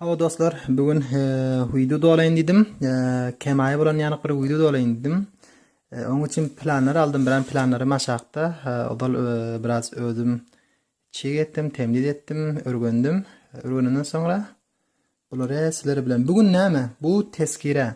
Hawa dostlar, bu gün wideo dolaýyn diýdim. Kemaýa bolan ýanyk bir wideo dolaýyn diýdim. Oň üçin planlar aldym, biran planlary maşakda. Odal biraz özüm çig etdim, temliz etdim, örgendim. Örgeninden soňra bulary sizler bilen bu gün näme? Bu teskire.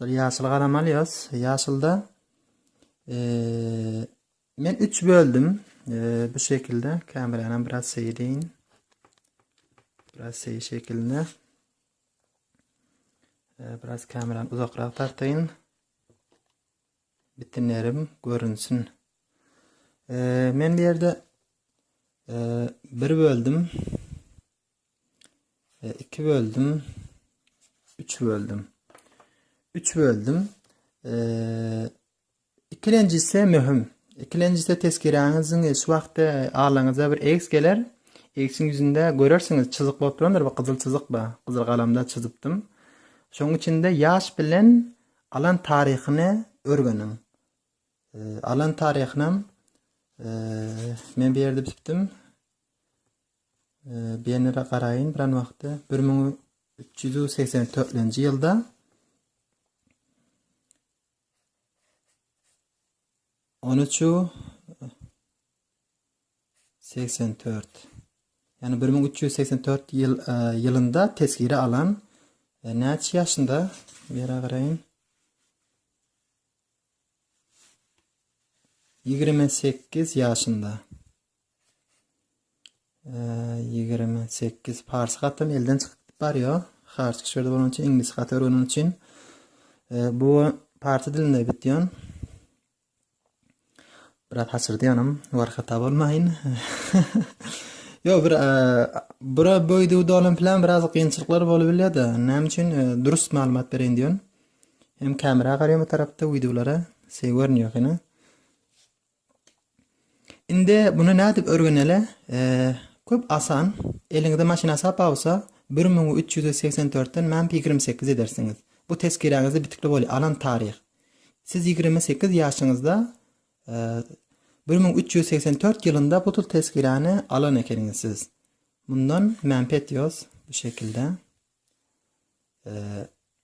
Dur ýaşyl galam alýas. Ýaşylda eee men 3 böldüm. Eee bu şekilde kamerany biraz seýreýin. Biraz seý şekilde. Eee biraz kamerany uzakrak tartaýyn. Bitinlerim görünsin. Eee men bu ýerde eee 1 böldüm. 2 böldüm 3 böldüm 3 böldüm ikilenjisi möhüm ikilenjisi tesgiräňiziň şu wagtda alaňyza bir x geler x-iň ýüzünde görersiňiz çyzyk bolup durandyr bu gyzyl çyzyk ba gyzyl galamda çyzypdym şoň içinde ýaş bilen alan taryhyny örgeniň alan taryhynam men bir ýerde bitipdim Bernere garaýyn biran wagtda 1384-nji ýylda on üçü segsen dört ýagny bir müň üç ýüz segsen dört ýyl e, ýylynda tesgiri alan e, näçe ýaşynda ýere garaýyn ýigrimi sekiz ýaşynda 28 parsy hatdan elden çykyp barýar. Harçyk şu ýerde bolan üçin iňlis haty öwreniň üçin e, bu parsy dilinde bitýän. Biraz haçyrdýanym, war hata bolmaýyn. Yo bir e, bura böýdi dolan plan biraz kynçylyklar bolup bilýär-de. Näme üçin e, durus maglumat bereýin diýen. Hem kamera garaýan bu tarapda wideolara, şey görünýär hene. Indi muny nädip örgenele köp asan eliňizde maşyn asap bawsa bir müň üç ýüz segsen dörtden map ýigrimi sekiz edersiňiz bu tezkiräňizde bitikli bol alan taryh siz ýigrimi sekiz ýaşyňyzda bir müň üç ýüz segsen dört ýylynda bu tezkiräni alan ekeniňiz siz mundan map etýos bu şekilde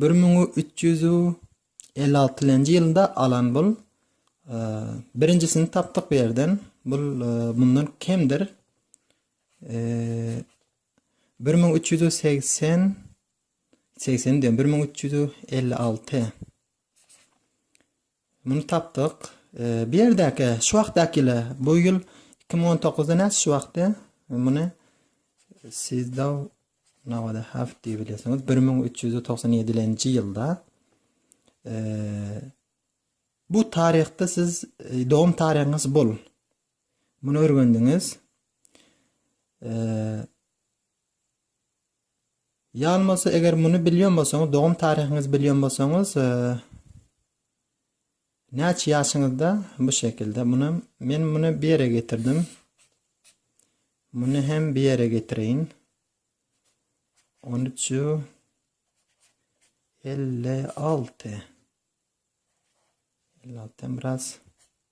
Bir müň üç ýüz elli altynjy ýylynda alan bul. Birinjisini tapdyk bu ýerden. Bul mundan kemdir. 1380 80 diýen 1356. Muny tapdyk. Bu ýerdäki şu wagtdakile bu ýyl iki müň on toguzda näçe şu wagty muny siz da nawada haf diýip bilesiňiz bir müň üç ýüz togsan ýedilenji ýylda bu taryhda siz dogum taryhyňyz bul muny örgendiňiz Ýan bolsa eger muny bilýän bolsaňyz dogum taryhyňyzy bilýän bolsaňyz näçe ýaşyňyzda bu şekilde muny men muny bir ýere getirdim muny hem bir ýere getireýin 13 56 56 biraz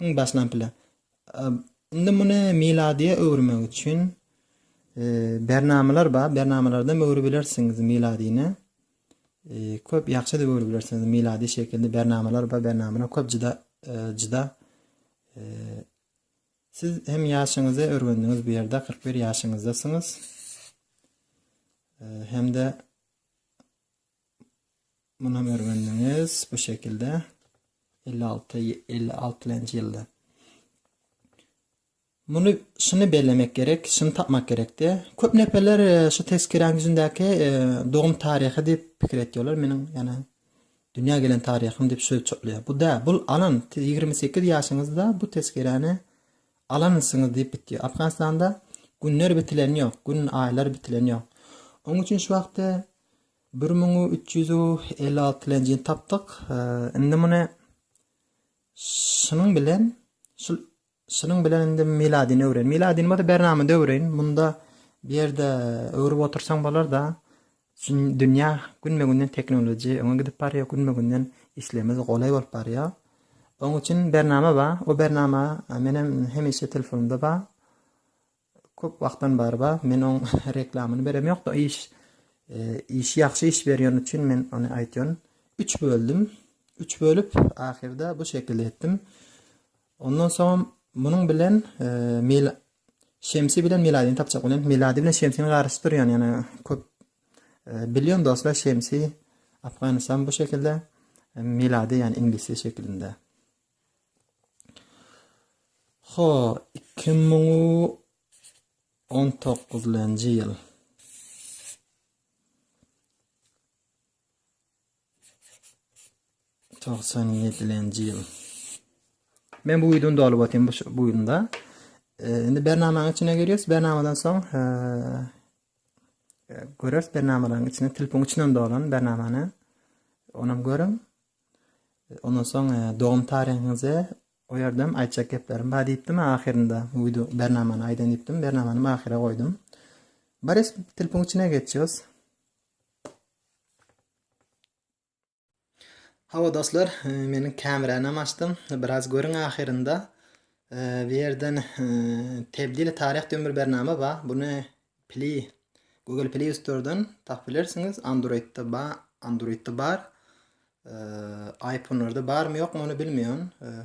Iň başdan bile. Indi muny miladiýa öwürmek üçin bernamalar bar. Bernamalardan öwrüp bilersiňiz miladyny. Köp ýagşy edip öwrüp bilersiňiz miladi şekilde bernamalar bar. Bernamalar köp juda juda Siz hem ýaşyňyzy örgendiňiz bu ýerde 41 ýaşyňyzdasyňyz. Hem-de Muny görgendiňiz bu şekilde 56 56 lenji ýylda. Muny şuny bellemek gerek, şuny tapmak gerekdi. Köp neferler e, şu tezkiräň ýüzündäki e, dogum taryhy diýip pikir etýärler. Meniň ýana dünýä gelen taryhym diýip söz çoklaýar. Bu da bu alan 28 ýaşyňyzda bu tezkiräni alansyňyz diýip bitýär. Afganistanda günler bitilen ýok, gün aýlar bitilen ýok. Onuň üçin şu wagtda Bir müň üç ýüz elli alty lenjini tapdyk. Indi muny şunuň bilen şu şunuň bilen indi miladini öwren. Miladini bolsa bernamada öwren. Munda bu ýerde öwrüp otursaň bolar da. Dünýä günme-günden teknologiýa öňe gidip barýar, günme-günden işlerimiz golaý bolup barýar. Oň üçin bernama bar. O bernama menem hemişe telefonumda bar. Köp wagtdan bary bar men oň reklamyny berem ýokda iş işi ýagşy iş berýän üçin men ony aýtýan. Üç böldüm. Üç bölüp ahyrda bu şekilde etdim. Ondan soňam munuň bilen mil Şemsi bilen Miladini tapjak bolýan. Miladi bilen Şemsini garşy durýan ýana köp bilýän dostlar Şemsi Afganistan bu şekilde Miladi ýani inglisi şekilinde. Ho, iki müň on dokuzynjy ýyl. Togsan ýedilenji ýyl. Men bu ýylyny dolup otyryn bu bu ýylda. Indi bernamanyň içine girýäs. Bernamadan soň göräs bernamalaryň içine, telefonyň içinden dolan bernamany. Onam görüň. Ondan soň dogum taryňyzy goýardym, aýtjak geplerim bar diýipdim ahyrynda. Bu wideo bernamany aýdan diýipdim, bernamany ahyra goýdum. Baris telefon içine geçýäs. Hawa dostlar, e, meniň kamerany hem açdym. Biraz görüň ahyrynda. E, bu ýerden e, Tebdili taryh diýen bir bernama bar. Buny Pli. Google Play Store'dan tap bilersiňiz. Android'da ba Android'da bar. Eee, iPhone'larda barmy ýokmy ony bilmeýän. Eee,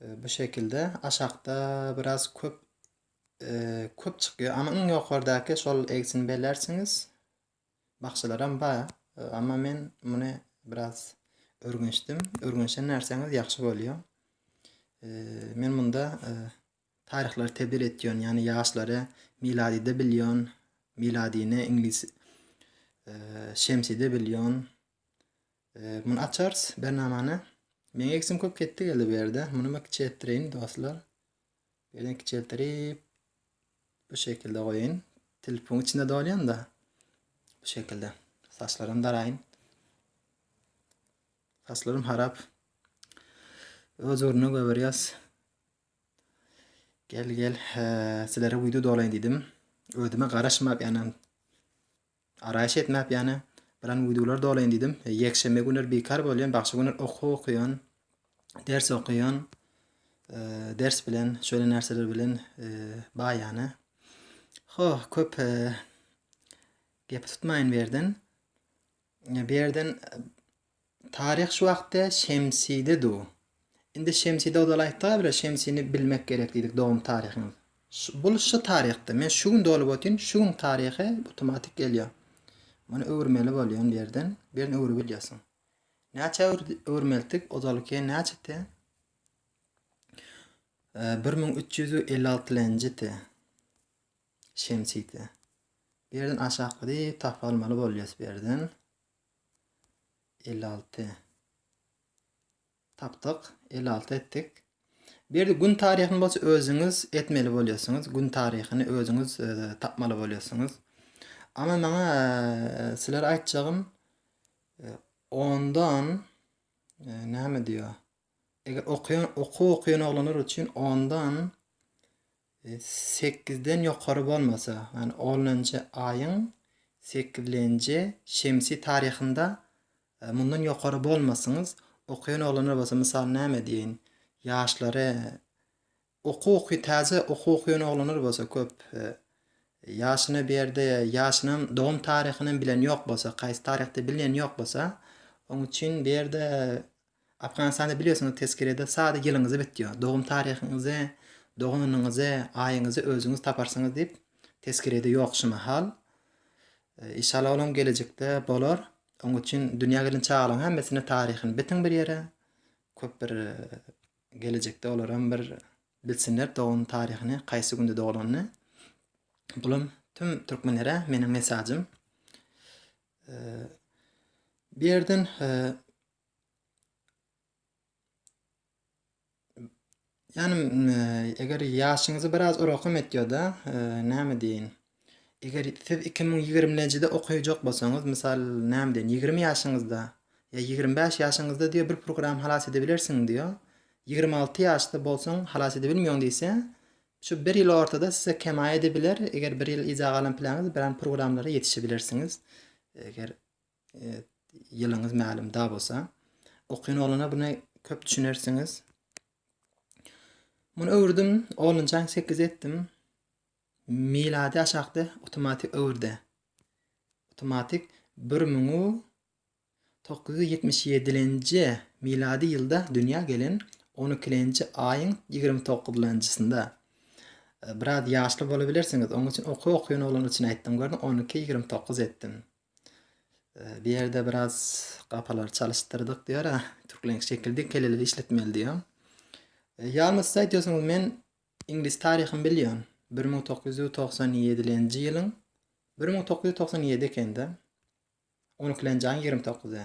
e, bu şekilde aşakda biraz köp eee, köp çykýar. Ama iň ýokardaky şol egsini belersiňiz. Bakşalaram bar. Eee, Ama men muny biraz örgençdim. Örgençen närsäňiz ýagşy bolýar. Eee, men munda eee, Taryhlary tebdil etýän, ýagny ýaşlary miladyda bilýän, miladyny iňlis şemside bilýän. Muny açarys bernamany. Meň eksim köp ketdi geldi bu ýerde. Muny men kiçeltdireýin dostlar. Ýerden kiçeltdirip bu şekilde goýaýyn. Telefon içinde dolýan-da. Bu şekilde. Saçlarym daraýyn. Saçlarym harap. Öz ornuna göberýäs. Gel gel sizlere video dolaýyn diýdim. Özüme garaşmak ýany araýyş etmäp ýany bilen videolar dolaýyn diýdim. Ýekşenbe günler bekar bolýan, bagşy günler okuw okuýan, ders okuýan. Ders bilen, şöyle närseler bilen baý ýany. Ho, köp gepi tutmaýyn berden. Berden Taryh şu wagtda Şemside du. Indi Şemside ozalaýtdyga bile Şemsini bilmek gerek diýdik dogum taryhymyz. Bul şu taryhda. Men şu gün dolup otyryn, şu gün taryhy otomatik gelýär. Muny öwürmeli bolýan birden, birden öwrüp bilýärsiň. Näçe öwürmeltik ozalky näçeti? Bir müň üç ýüz elli alty lenjiti. Şemside. Birden aşakladyp tapalmaly bolýas birden. 56 tapdyk 56 etdik bir gün taryhyny bolsa özüňiz etmeli bolýarsyňyz gün taryhyny özüňiz e, tapmaly bolýarsyňyz ama maňa e, sizlere aýtjagym e, ondan näme diýýär Eger okaýan okuw okaýan oglanlar üçin ondan e, sekizden ýokary bolmasa, ýagny onunjy aýyň sekizinji şemsi taryhynda e, mundan ýokary bolmasyňyz, okaýan oglanlar bolsa, mysal näme diýeýin, ýaşlary Okuky täze okuky ýönoglanlar bolsa köp ýaşyna bir ýerde ýaşynam dogum taryhynam bilen ýok bolsa kaýsy taryhda bilinen ýok bolsa oň üçin bir ýerde Afganistanda bilýosiňiz teskerede sada ýylyňyzy bitýo dogum taryhyňyzy dogan onyňyzy aýyňyzy özüňiz taparsyňyz diýip teskerede ýok şu mahal inşallah olam gelejekde bolar oň üçin dünýä gelen çagalaň hemmesine taryhyny bitiň bir ýere köp bir Gelejekde olaram bir bilsinler dogum taryhyny kaýsy günde dogulanyny. Bulam tüm türkmenlere meniň mesajym. Bu ýerden Ýanym eger ýaşyňyzy biraz orakom etýoda näme diýin. Eger siz iki müň ýigrimi njide okaýjak bolsaňyz, mysal, näme diýen, ýigrimi ýaşyňyzda ýa ýigrimi bäş ýaşyňyzda diýýär, bir programma halas edebilersiň diýýär. Ýigrimi alty ýaşda bolsaň, halas edebilmeýäň diýse, şu bir ýyl ortada size kemaý edebiler. Eger bir ýyl yza galan planňyz, bir an programlara ýetişebilersiňiz. Eger ýylyňyz mälim da bolsa. Okýan oglana buna köp düşünersiňiz. Muny öwürdim, onunjany sekize etdim. Milady aşakda awtomatik öwürde awtomatik bir müň dokuz ýüz ýetmiş ýedilenji milady ýylda dünýä gelen on ikilenji aýyň ýigrimi toguzlanjysynda biraz ýaşly bolubilersiňiz oň üçin okuw okuýan oglan üçin aýtdym gördiň on iki ýigrimi dokuz etdim bu ýerde biraz gapalary çalyşdyrdyk diýýär türkleň şekildi keleli işletmeli diýýär ýalňyşsa aýtýarsyňyz men Iňlis taryhyny bilýän, bir müň dokuz ýüz togsan ýedilenji ýylyň, bir müň dokuz ýüz togsan ýedi ekende, on ikilenji aýyň ýigrimi dokuzy.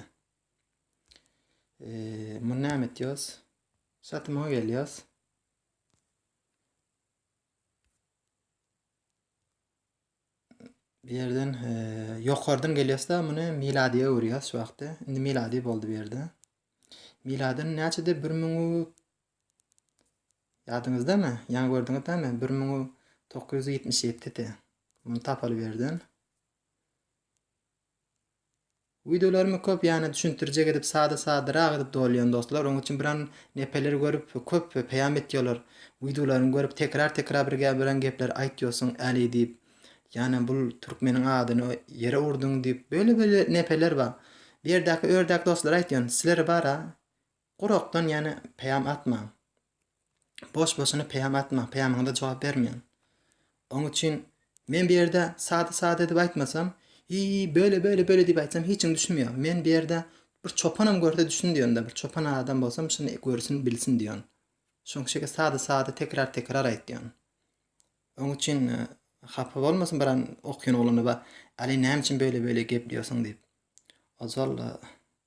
Muny näme etýos? Satymyňa gelýos. Bu ýerden ýokardan gelýosda muny miladiýa öwürýäs şu wagtda. Indi miladi boldy bu ýerde. Miladyn näçede 1000 Ýadyňyzdamy, ýaňy gördüňiz dämi, bir müň dokuz ýüz ýetmiş ýedidi. Muny tapaly birden. Wideolarymy köp ýany düşündirjek edip sada sadarak edip dolýan dostlar. Onuň üçin biran nepeler görüp köp peýam etýolar. Wideolaryny görüp tekrar tekrar bir gep biran gepler aýtýosyň äli diýip. Ýani bul türkmeniň adyny ýere urduň diýip. Böyle böyle nepeler bar. Bu ýerdäki ördäk dostlar aýtýan. Sileri bara Gurakdan ýene peýam atmaň. Boş-boşuna peýam atmaň, peýamyňyza jogap bermeň. Oň üçin men bu ýerde sada-sada edip aýtmasam, Hiý, böle, böle, böle diýip aýtsam hiç kim düşünmeýär. Men bu ýerde bir çopanam görse düşsün diýendir, bir çopan adam bolsam şuny görsün, bilsin diýen. Şoň şeýle sada-sada tekrar-tekrar aýt diýen. Oň üçin hapa bolmasyn biran okýan oglana ba, Aly näme üçin böle-böle gepleýärsiň diýip. Ojal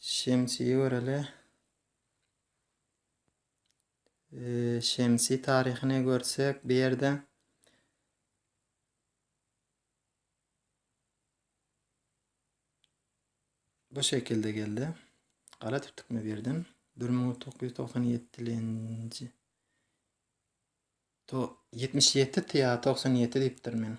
Şemsi göreli. Ee, Şemsi taryhyny görsek bu ýerde bu şekilde geldi. Gara tutdukmy bu ýerden? 1997-nji 77 tä 97 diýipdir men.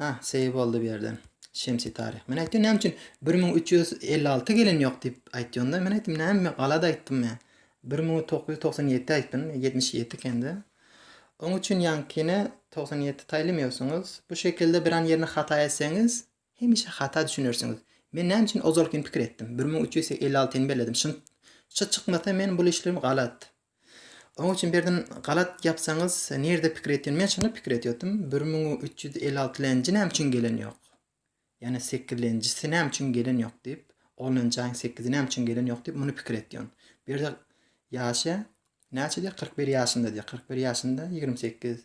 Hah, seýil boldy bu ýerden. Şemsi Taryh. Men aýtdym, näme üçin bir müň üç ýüz elli alty gelen ýok diýip aýtýonda, men aýtdym, näme men galada aýtdym ýa. Bir müň dokuz ýüz togsan ýedi aýtdym, ýetmiş ýedi ekende. Oň üçin ýaňkyny togsan ýedi taýlamaýarsyňyz. Bu şekilde biran ýerini hata etseňiz, hemişe hata düşünersiňiz. Men näme üçin ozalkyny pikir etdim, bir müň üç ýüz elli altyny belledim. Şynt, şy çykmasa men bul işlerim galat. Oň üçin berdim galat ýapsaňyz nirde pikir etýän men şonda pikir etýotym bir müň üç ýüz elli alty lenji näme üçin gelen ýok ýane sekiz lenjisi näme üçin gelen ýok diýip on lenji aýyň sekizi näme üçin gelen ýok diýip muny pikir etýän bir de ýaşy näçe diýýär kyrk bir ýaşynda diýýär kyrk bir ýaşynda ýigrimi sekiz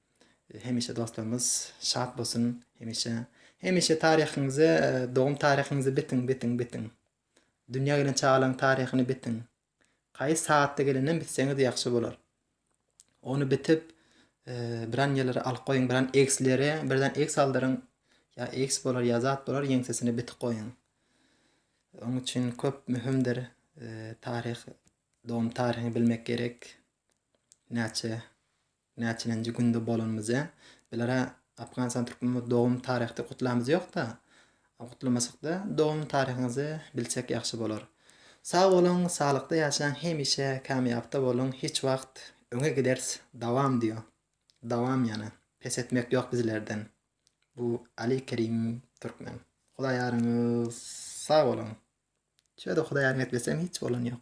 Hemişe dostlarymyz şat bolsun hemişe hemişe taryhyňyzy dogum taryhyňyzy bitiň bitiň bitiň dünýä gelen çagalaň taryhyny bitiň kaýys sagatda gelenden bitseňiz ýagşy bolar ony bitip biran ýerlere alyp goýuň biran ekslere birden eks aldyryň ýa eks bolar ýa zat bolar ýeňsesini bitip goýuň oň üçin köp möhümdir taryh dogum taryhyny bilmek gerek näçe Näçenenji günde bolanymyz-ä? Biler-ä Apganistan türkmenimiz dogum taryhdy gutlamyz ýokda. Gutlamasakda dogum taryhyňyzy bilsek ýagşy bolar. Sag boluň saglykda ýaşaň hemişe kamýapda boluň hiç wagt öňe giders dawam diýo dawam ýana pes etmek ýok bizlerden bu Ali Kerim Türkmen Hudaýaryňyz sag boluň şöde Hudaýaryň etlesem hiç bolan ýok.